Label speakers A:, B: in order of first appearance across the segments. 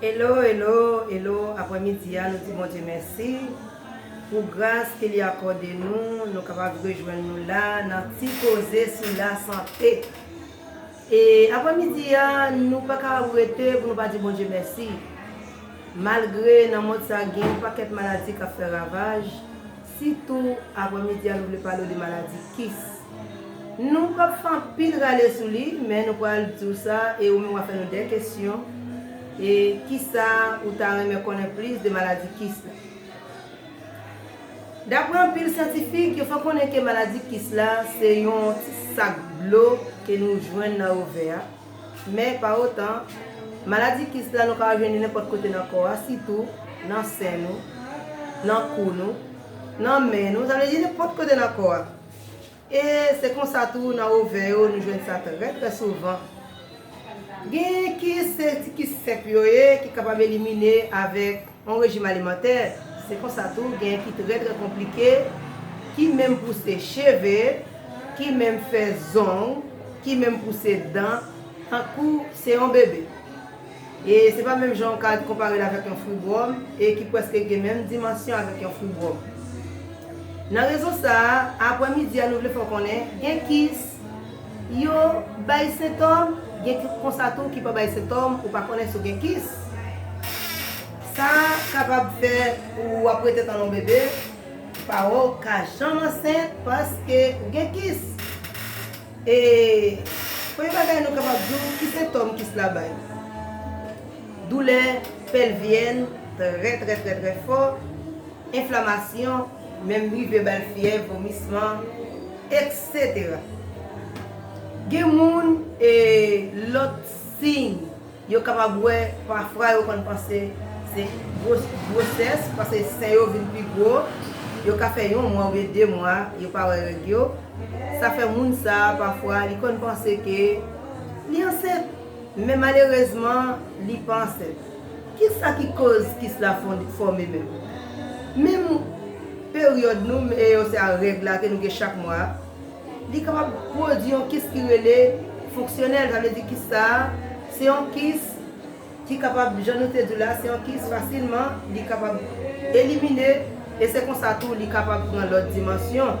A: Hello hello hello aprè midi a nou di Bondye mèsi pou gras ke li akòde nou nou kapab rejwenn nou la nan ti koze sou la sante e aprè midi a nou pa ka rete pou nou pa di Bondye mèsi malgre nan mond sa gen yon pakèt maladi kap fè ravaj Si tou aprè midi a nou vle pale w de maladi kis. Nou pap fè anpil rale sou li, men nou pral di w sa e ou menm wap fè nou de kesyon e kisa ou ta renmen konnen plis de maladi kis la. Daprè anpil syantifik, yo fè konnen ke maladi kis la se yon ti sak dlo ke nou jwenn nan ovè a, Men, pa otan, maladi kis la nou ka jwenn li nenpòt kote nan kò a, sitou nan sen nou, nan kou nou, nan men nou, sa vle di nenpòt kote nan kò a. E se konsa tou nan ovè yo nou jwenn sa trè trè souvan. Gen kis, se ti kis senp yo ye ki kapab elimine avèk. On rejim alimantè, se konsa tou genyen ki trè trè konplike, ki menm pouse cheve, ki menm fè zong, ki menm pouse dan, tankou se on bebe. E se pa menm jan ou ka konpare l avèk yon fwi bwòm, e ki prèske gen menm dimansyon avèk yon fwi bwòm. Nan rezon sa a, apwè midi a nou vle fè w konnen, gen kis. yo bay sentòm, gen ki konsa tou ki pa bay sentòm, ou pa konnen si w gen kis. Sa kapab fè ou ap rete tanlon bebe pa w ka janm ansent paske ou gen kis. E premye bagay nou kapab di w ki sentòm kis la bay. Doulè pèlvyèn trè trè trè trè fò, enflamasyon. Menm rive bal fyèv, vomisman, etc. Gen moun e lòt siy yo kapab wè pafra yo konn panse se gwosès paske sen yo vin pi gwo, yo ka fè yon mwa oubyen 2 mwa yo pa wè règ yo, sa fè moun sa pafwa li konn panse ke li ansent men malerezman li pa ansent. Kisa ki koz kis la fòme menm? Menm peryòd nou men yo se a règ la ke nou gen chak mwa a, li kapab pwodui yon kis ki rele fonksyonèl, sa vle di kis sa a se yon kis ki kapab jan nou te di w la se yon kis fasilman li kapab elimine e se konsa tou li kapab pran lòt dimansyon.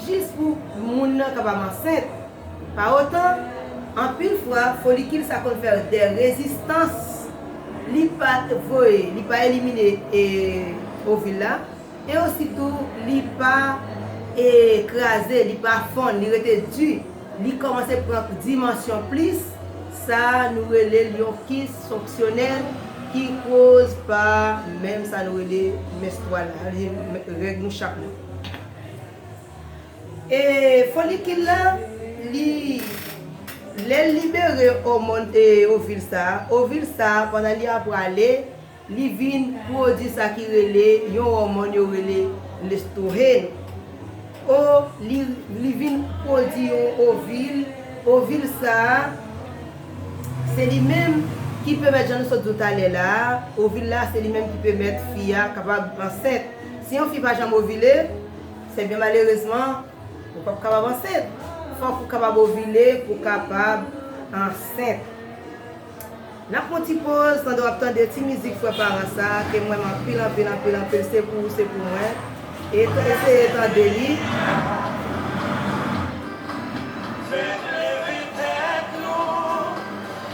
A: Jis pou moun nan kapab ansent. Pa otan, anpil fwa, folikil sa konn fè dè rezistans. Li pa voye, li pa elimine ovil la, e osi tou li pa kraze, li pa fonn, li rete di. Li kòmanse pran dimansyon plis, sa nou rele l yon kis fonksyonèl ki koz pa menm sa nou rele menstwal la, règ nou chak mwa. E folikil la, li, lè l libere omòn, e ovil sa a, ovil sa a pandan li ap prale, li vin pwodui sa ki rele yon òmòn yo rele lestrohen. O, li, li vin pwodui yon ovil, ovil sa a, se li menm ki pèmèt, jan nou sot di w talè la a, ovil la se li menm ki pèmèt fi a kapab ansent. Si yon fi pa janm ovile, se byen malerezman ou pap kapab ansent. Fòk ou kapab ovile pou kapab ansent. Nap pran ti poz pandan wap tande ti mizik Frè Paran sa ke mwen renmen anpil anpil anpil anpil se pou ou se pou mwen e eseye tande li.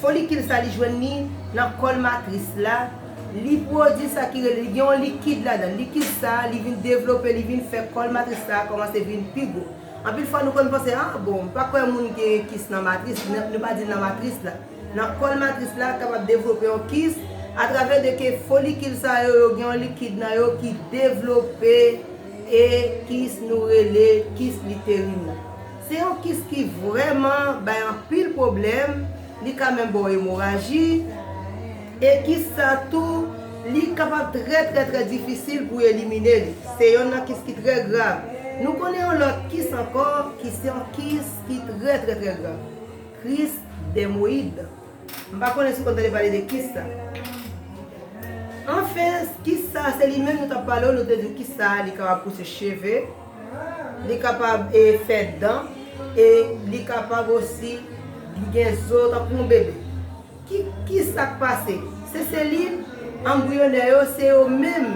A: Folikil sa li jwenn li nan kòl matris la, li pwodui sa ki rele, li gen yon likid ladan l. Likid sa li vin devlope, li vin fè kòl matris la kòmanse vin pi gwo. Anpil fwa nou konn panse, ah bon, m pa kwè moun gen kis nan matris, nou pa di nan matris la. Nan kòl matris la kapab devlope yon kis atravè de ke folikil sa yo, yo gen yon likid nan yo ki devlope e kis nou rele kis literin nan. Se yon kis ki vrèman bay anpil pwoblèm, li ka menm ba w emoraji, e kis sa tou li kapab trè trè trè difisil pou elimine li. Se yonn nan kis ki trè grav. Nou konnen yon lòt kis ankò ki se yon kis ki trè trè trè grav. Kris dèmoyid. M pa konnen si w konn tande pale de kis sa. Anfen, kis sa se li menm nou t ap pale w, nou te di w kis sa li kapab pouse cheve. Li kapab fè dan e li kapab osi gen zo tankou yon bebe. Ki sa k pase? Se selil anbriyonè yo, se yo menm.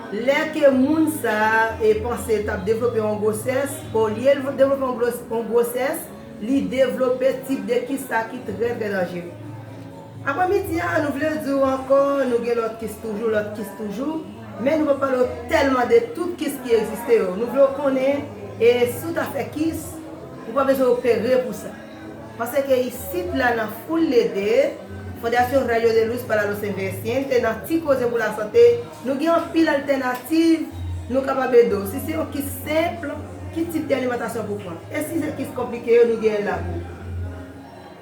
A: Lè ke moun sa a panse t ap devlope yon gwosès, olye l devlope yon gwosès, li devlope tip de kis la ki trè trè danjere. Aprè midi a nou vle di w ankò nou gen lòt kis toujou, lòt kis toujou, men nou pa pale w tèlman de tout kis ki egziste yo. Nou vle w konnen e si w ta fè kis, ou pa bezwen opere pou sa. Paske isit la nan Foul Lede, Fundación Rayo de Luz para los Envejecientes, nan Ti Koze pou Lasante, nou gen anpil altènativ nou kapab ede w. Si se yon kis senp, ki tip de alimantasyon pou w pran. E si se kis konplike yo, nou genyen la pou w.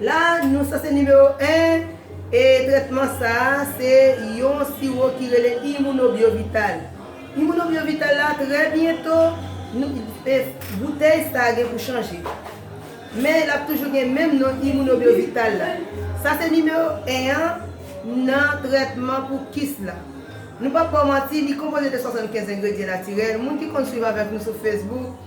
A: La nou sa se nimewo 1 e trètman sa a se yon siwo ki rele Immunobiovital. Immunobiovital la trè byento nou e boutèy sa a gen pou chanje. Men l ap toujou gen menm non Immunobiovital la. Sa se nimewo 1 an nan trètman pou kis la. Nou p ap ba w manti li konpoze de 75 engredyen natirèl, moun ki konn swiv avèk nou sou Facebook,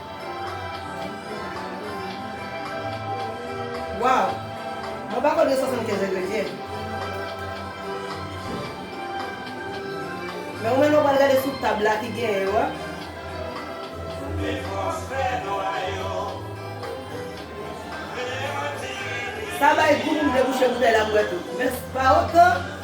A: Waw Mwen pako 275 engredyen Men ou menm lè ou pral gade sou tab la ki genyen yo a. Sa bay gou pou m debouche boutèy la m bwè tou. Men pa otan.